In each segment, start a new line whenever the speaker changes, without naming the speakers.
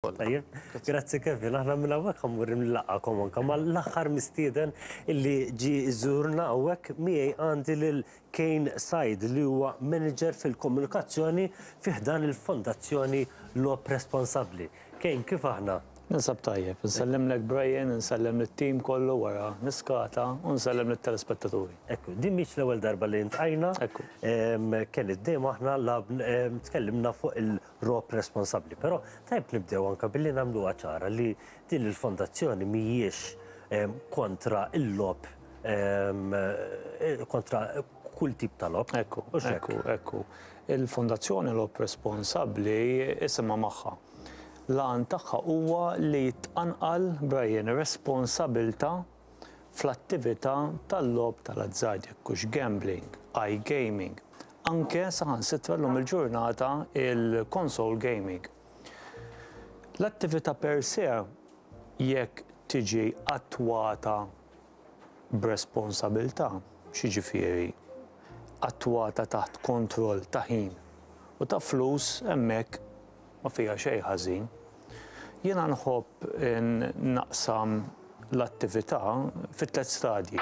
Tajjeb. Grazzi Kevin, aħna minn hawnhekk ħa mmur inlaqgħakom anke ma' l-aħħar mistieden illi ġie jżurna hawnhekk. Miegħi għandi lil Kane Said li huwa Manager fil-Komunikazzjoni fi ħdan il-Fondazzjoni Logħob Responsabbli. Kane, kif aħna? Ninsab tajjeb. Insellimlek Brian, insellem lit-team kollu wara l-iskata u nsellem lit-telespettaturi. Ekku, din mhix l-ewwel darba li ltqajna. Ekku. Kane, dejjem aħna lagħab, tkellimna fuq Rob responsabbli. Però tajjeb nibdew anke billi nagħmluha ċara li din il-fondazzjoni mhijiex kontra l-logħob kontra kull tip ta' logħob. Ekku, ekku, ekku. Il-Fondazzjoni Rob Responsabbli isimha magħha. L-għan tagħha huwa li tqanqal, Brian, responsabbiltà fl-attività tal-logħob tal-azzard, jekk hux gambling, iGaming, anke saħansitra llum il-ġurnata il-console gaming. L-attività per se jekk tiġi attwata b'responsabilità, x'jiġifieri attwata taħt kontroll ta' ħin u ta' flus hemmhekk Ma fiha xejn ħażin. Jiena nħobb naqsam l-attività fi tliet stadji.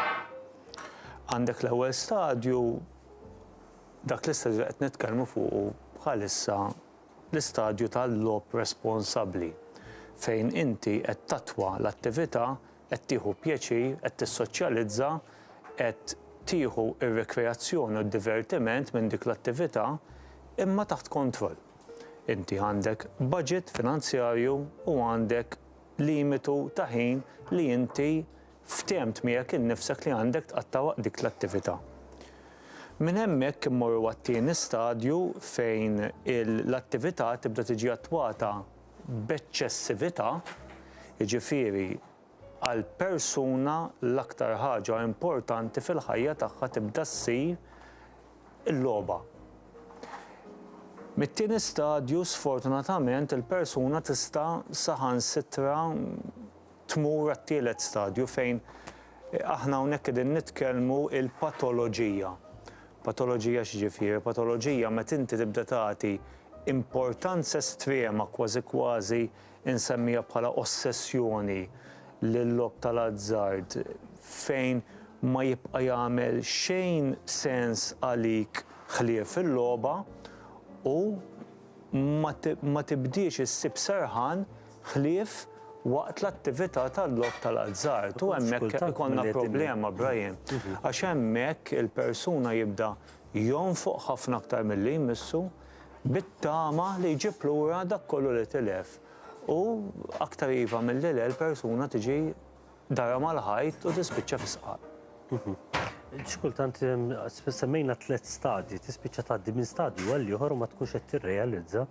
Għandek l-ewwel stadju, dak l-istadju li qed nitkellmu fuqu bħalissa, l-istadju tal-logħob responsabbli, fejn inti qed tattwa l-attività, qed tieħu pjaċir, qed tissoċjalizza, qed tieħu r-rikreazzjoni u d-divertiment minn dik l-attività, imma taħt kontroll. Inti għandek budget finanzjarju u għandek limitu ta' ħin li inti ftemt miegħek innifsek li għandek tqatta' waqt dik l-attività. Minn hemmhekk immorru għat-tieni stadju fejn l-attività tibda tiġi attwata b'eċċessività, jiġifieri Għal persuna l-aktar ħaġa importanti fil-ħajja tagħha tibda ssir il-logħba. Mit-tieni stadju sfortunatament il-persuna tista' saħansitra tmur għat-tielet stadju fejn aħna hawnhekk qegħdin nitkellmu il-patoloġija. Patoloġija x'ġifieri? Patoloġija meta inti tibda tagħti importanza estrema kważi kważi Insemmija bħala ossessjoni l-logħob tal-azzard fejn ma jibqa' jagħmel xejn sens għalik ħlief il-logħba u ma tibdiex issib serħan ħlief waqt l-attività tal-logħob tal-azzard. U hemmhekk ikollna problema, Brian, għax hemmhekk il-persuna jibda jonfoq ħafna aktar milli jmissu, bit-tama li jġib lura dak kollu li tilef. U aktar iva milli le l-persuna tiġi darha mal-ħajt u tispiċċa fis-sqaq. Xi kultant semmejna tliet stadji, tispiċċa tgħaddi minn stadju għal ieħor u ma tkunx qed tirrealizza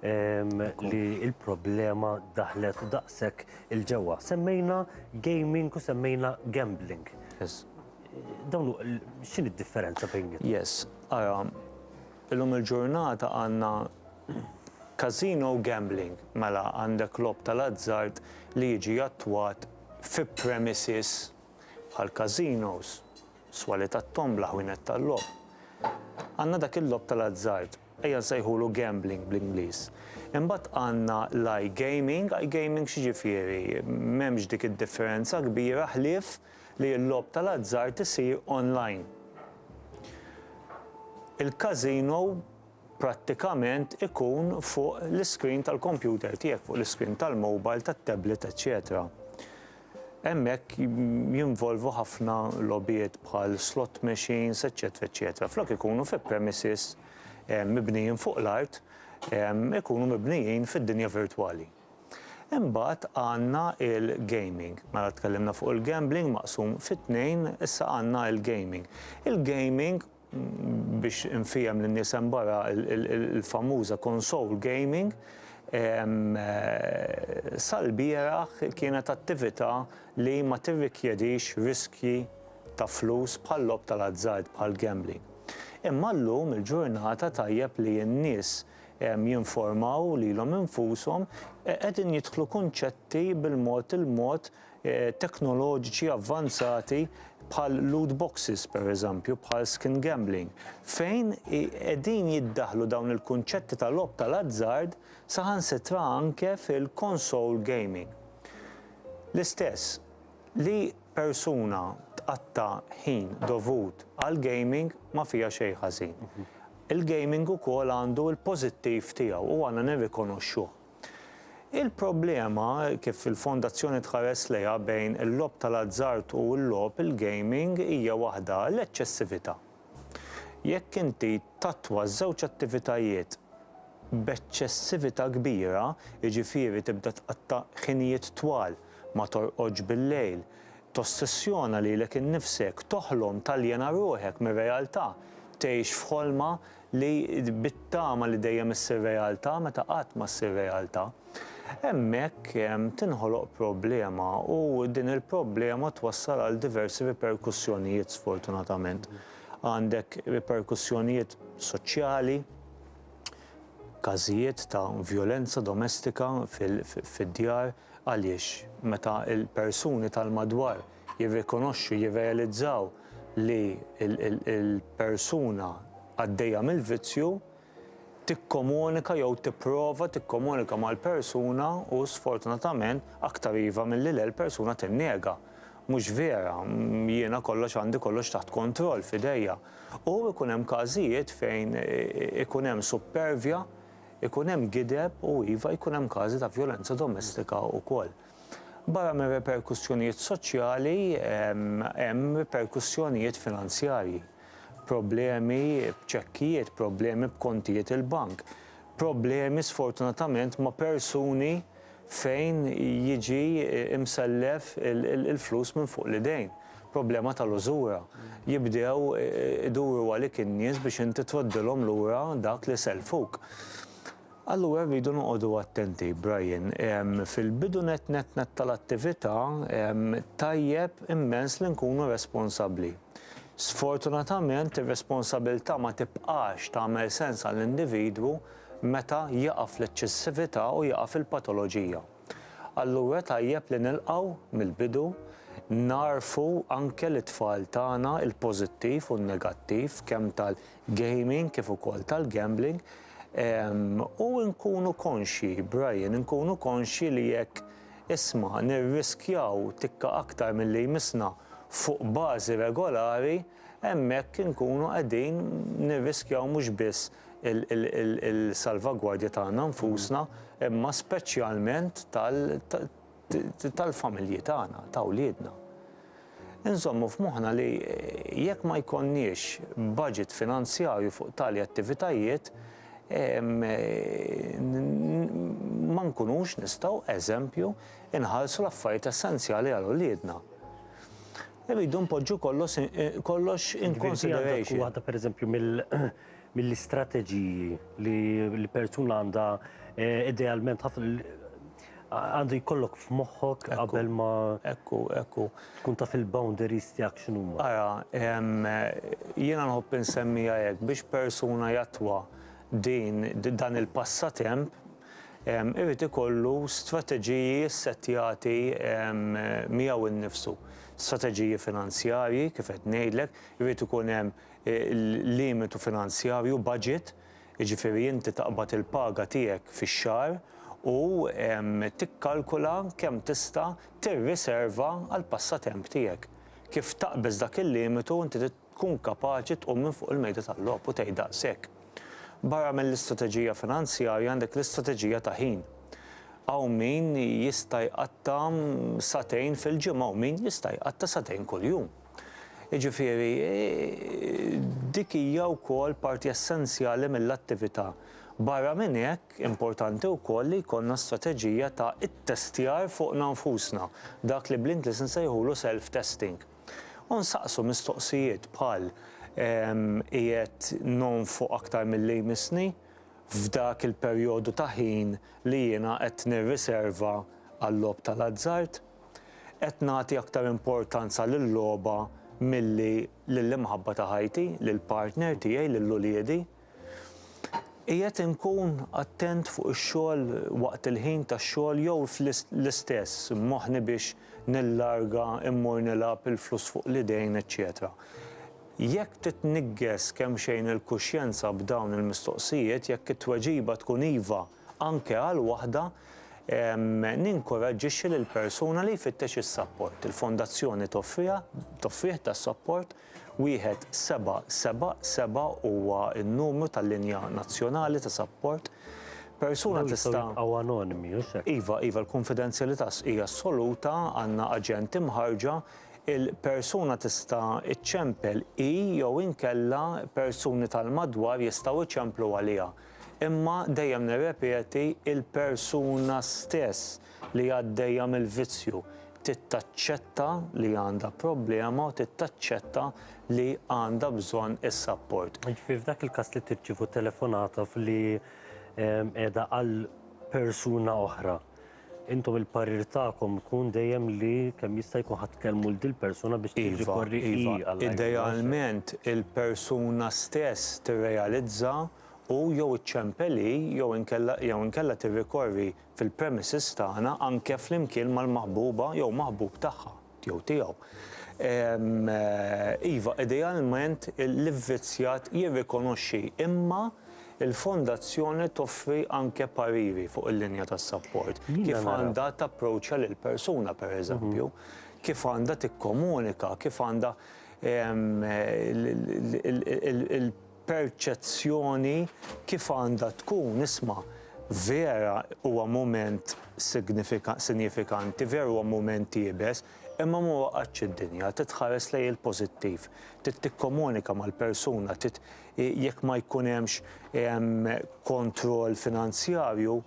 li l-problema daħlet daqshekk il-ġewwa. Semmejna gaming u semmejna gambling. Dawn x'inhi d-differenza bejniethom? Yes, ara, Illum il-ġurnata għandna casino u gambling, mela għandek logħob tal-azzard li jiġi attwat fi premises bħal casinos, swali tat-tombla, ħwienet tal-logħob. Għandna dak il-logħob tal-azzard, ejja nsejħulu gambling bl-Ingliż. Imbagħad għandna l-iGaming, iGaming x'jiġifieri? M'hemmx dik id-differenza kbira ħlief li l-logħob tal-azzard isir online. Il-każino prattikament ikun fuq l-iskrin tal-kompjuter tiegħek, fuq l-iskrin tal-mobile, tat-tablet, eċċetera. Hemmhekk jinvolvu ħafna logħbiet bħal slot machines, eċċetera, eċċetera. Flok ikunu fi premises mibnijin fuq l-art, ikunu mibnijin fid-dinja virtwali. Imbagħad għandna il-gaming. Mela tkellimna fuq il-gambling maqsum fi tnejn, issa għandna il-gaming. Il-gaming, biex infiehem lin-nies hemm barra, il-famuża console gaming, sal-bieraħ kienet attività li ma tirrikjedix riskji ta' flus bħal-logħob tal-azzard, bħall-gambling. Imma llum il-ġurnata tajjeb li n-nies jinformaw lilhom infushom, qegħdin jidħlu kunċetti bil-mod il-mod teknoloġiċi avvanzati bħal loot boxes pereżempju, bħal skin gambling, fejn qegħdin jiddaħħlu dawn il-kunċetti ta' logħob tal-azzard saħansitra anke fil-console gaming. L-istess. Li persuna tqatta' ħin dovut għall-gaming ma fiha xejn ħażin. Il-gaming ukoll għandu l-pożittiv tiegħu u għandna nirrikonoxxuh. Il-problema, kif il-Fondazzjoni tħares lejha, bejn il-logħob tal-azzard u l-logħob, il-gaming, hija waħda, l-eċċessività. Jekk inti tattwa ż-żewġ attivitajiet b'eċċessività kbira, jiġifieri tibda tqatta' ħinijiet twal, ma torqodx bil-lejl, tossessjona lilek innifsek, toħlom, taljena ruħek mir-realtà, tgħix f'ħolma li bit-tama li dejjem issir realtà meta qatt ma ssir realtà. Hemmhekk tinħoloq problema u din il-problema twassal għal diversi riperkussjonijiet sfortunatament. Għandek riperkussjonijiet soċjali, każijiet ta' vjolenza domestika fid-djar għaliex meta l-persuni tal-madwar jirrikonoxxu, jirrealizzaw li l-persuna għaddejja mill-vizzju, tikkomunika jew tipprova tikkomunika mal-persuna u sfortunatament aktar iva milli le l-persuna tinnega, mhux vera, jiena kollox għandi kollox taħt kontroll f'idejja. U ikun hemm każijiet fejn ikun hemm suppervja, ikun hemm gideb u iva jkun hemm każi ta' vjolenza domestika wkoll. Barra mir-riperkussjonijiet soċjali, hemm riperkussjonijiet finanzjarji. Problemi b'ċekkijiet, problemi b'kontijiet il-bank, problemi sfortunatament ma' persuni fejn jiġi msellef il-flus minn fuq l-idejn, problema tal-użura. Jibdew iduru għalik in-nies biex inti troddilhom lura dak li sellfuk. Allura rridu noqogħdu attenti, Brian. Fil-bidu nett nett nett tal-attività, tajjeb immens li nkunu responsabbli. Sfortunatament, ir-responsabilità ma tibqax tagħmel sens għall-individwu meta jaqa' fl-eċċessività u jaqa' fil-patoloġija. Allura tajjeb li nilqgħu, mill-bidu, nagħrfu anke lit-tfal tagħna l-pożittiv u n-negattiv kemm tal. gaming kif ukoll tal-gambling u nkunu konxji, Brian, inkunu konxji li jekk isma' nirriskjaw tikka aktar milli jmissna fuq bażi regolari, hemmhekk inkunu qegħdin nirriskjaw mhux biss il-salvagwardja tagħna nfusna imma speċjalment tal, tal-familji tagħna, ta' wliedna. Inżommu f'moħħna li jekk ma jkollniex baġit finanzjarju fuq tali attivitajiet, ma nkunux nistgħu, eżempju, inħarsu l-affarijiet essenzjali għal wliedna. Irridu npoġġu kollox in consideration. Waħda pereżempju mill-istrateġiji li persuna għandha idealment ħafna Għandu jkollok f'moħħok qabel ma. Ekku, ekku. Tkun taf il-boundaries tiegħek x'inhuma. Ara, jiena nħobb insemmiha hekk, biex persuna jattwa din, dan il-passatemp, irid ikollu strateġiji ssettjati miegħu nnifsu. Strateġiji finanzjarji, kif qed ngħidlek, irid ikun hemm limitu finanzjarju, budget, jiġifieri inti taqbad il-paga tiegħek fix-xahar u tikkalkula kemm tista' tirriserva għall-passatemp tiegħek. Kif taqbeż dak il-limitu inti trid tkun kapaċi tqum minn fuq il-mejda tal-logħob u tgħid daqshekk. Barra mill-istrateġija finanzjarja għandek l-istrateġija ta' ħin. Hawn min jista' jqatta' sagħtejn fil-ġimgħa u min jista' jqatta' sagħtejn kuljum. Jiġifieri, dik hija wkoll parti essenzjali mill-attività. Barra minn hekk, importanti wkoll li jkollna strateġija ta' ittestjar fuqna nfusna, dak li bl-Ingliż insejħulu self-testing. U nsaqsu mistoqsijiet bħal, Qiegħed nonfoq aktar milli jmissni f'dak il-perjodu ta' ħin li jiena qed nirriserva għal-logħob tal-azzard? Qed nagħti aktar importanza lil-logħba milli lill-imħabba ta' ħajti, lill-partner tiegħi, lil uliedi? Qiegħed inkun attent fuq ix-xogħol waqt il-ħin tax-xogħol jew l-istess moħħni biex nillarga, immur nilgħab, il-flus fuq l-idejn, eċċetera Jekk titniggess kemxejn il-kuxjenza b'dawn il-mistoqsijiet, jekk it-tweġiba tkun iva, Anke għal waħda, ninkuraġġixxi lill-persuna li jfittex is-sapport. Il-Fondazzjoni toffriha, toffrih tas-sapport, wieħed seba' seba' seba' huwa n-numru tal-linja nazzjonali ta' sapport. Persuna tista'. Dawn jistgħu jibqgħu anonimi, hux hekk? Iva, iva, l-kunfidenzjalità hija assoluta, għandna aġenti mħarrġa, il-persuna tista' iċċempel hi jew inkella persuni tal-madwar jistgħu jċemplu għaliha. Imma, dejjem nirrepeti, il-persuna stess li għaddejja mill-vizzju trid taċċetta li għandha problema u trid taċċetta li għandha bżonn is-sapport. Jiġifieri f'dak il-każ li tirċievu telefonata f'li qiegħda għal persuna oħra, Intom il-parir tagħkom ikun dejjem li kemm jista' jkun ħa tkellmu 'l dil-persuna biex tirrikorri hi għall-għajnuna ġenerali. Iva, idealment il-persuna stess tirrealizza u jew iċċempel hi jew inkella jew inkella tirrikorri fil-premises tagħna anke flimkien mal-maħbuba jew maħbub tagħha. jew tiegħu. Iva, idealment l-ivvizzjat jirrikonoxxi imma l-Fondazzjoni toffri anke pariri fuq il-linja ta' sapport, kif għandha tapproċċja lill-persuna pereżempju, kif għandha tikkomunika, kif għandha il- perċezzjoni kif għandha tkun, isma', vera huwa mument signifikan, sinjifikanti, veru huwa mument iebes, imma ma waqgħetx id-dinja, trid tħares lejn il-pożittiv, trid tikkomunika mal-persuna, trid jekk ma jkun hemmx kontroll finanzjarju,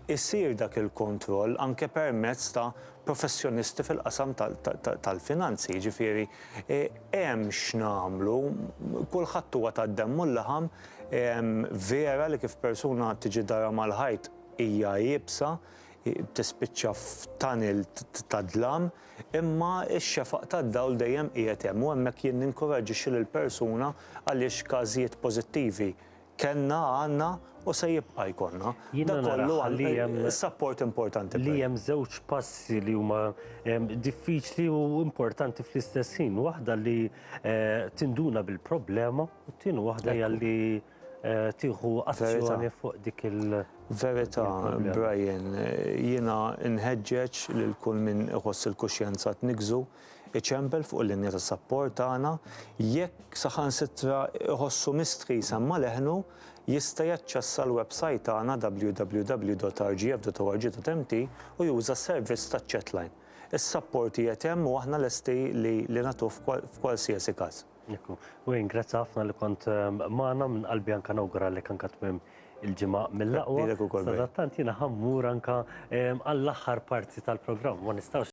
Isir dak il-kontroll anke permezz ta' professjonisti fil-qasam tal-finanzi, jiġifieri hemm x'nagħmlu, kulħadd huwa tad-demm u l-laħam, vera li kif persuna tiġi darha mal-ħajt hija iebsa, tispiċċa f'tunnel ta' dlam, imma x-xefaq tad-dawl dejjem qiegħed hemm u hemmhekk jien ninkuraġġixxi lill-persuna għaliex każijiet pożittivi Kellna, għandna u se jibqa' jkollna. Dak kollu għal support importanti. Li hemm żewġ passi li huma diffiċli u importanti fl-istess ħin. Waħda li tinduna bil-problema u t-tieni waħda hija li tieħu azzjoni fuq dik il- Verità, Brian. Jiena nħeġġeġ lil kull min iħoss il-kuxjenza tniggżu. iċempel fuq il-linja ta' sapport tagħna, jekk saħansitra jħossu mistħi jsemma' leħnu, jista' jaċċessa l-websajt tagħna www.rgf.org.mt u juża s-servizz taċ-chatline. Is-sapport qiegħed hemm u aħna lesti li li nagħtuh f'kwalsiasi każ. Ekku. Wayne, grazzi ħafna li kont magħna, minn qalbi anke nawguralek anke tmiem il-ġimgħa mill-aqwa. Lilek ukoll. Sadattant jiena ħa mmur anke għall-aħħar parti tal-programm, ma nistgħux.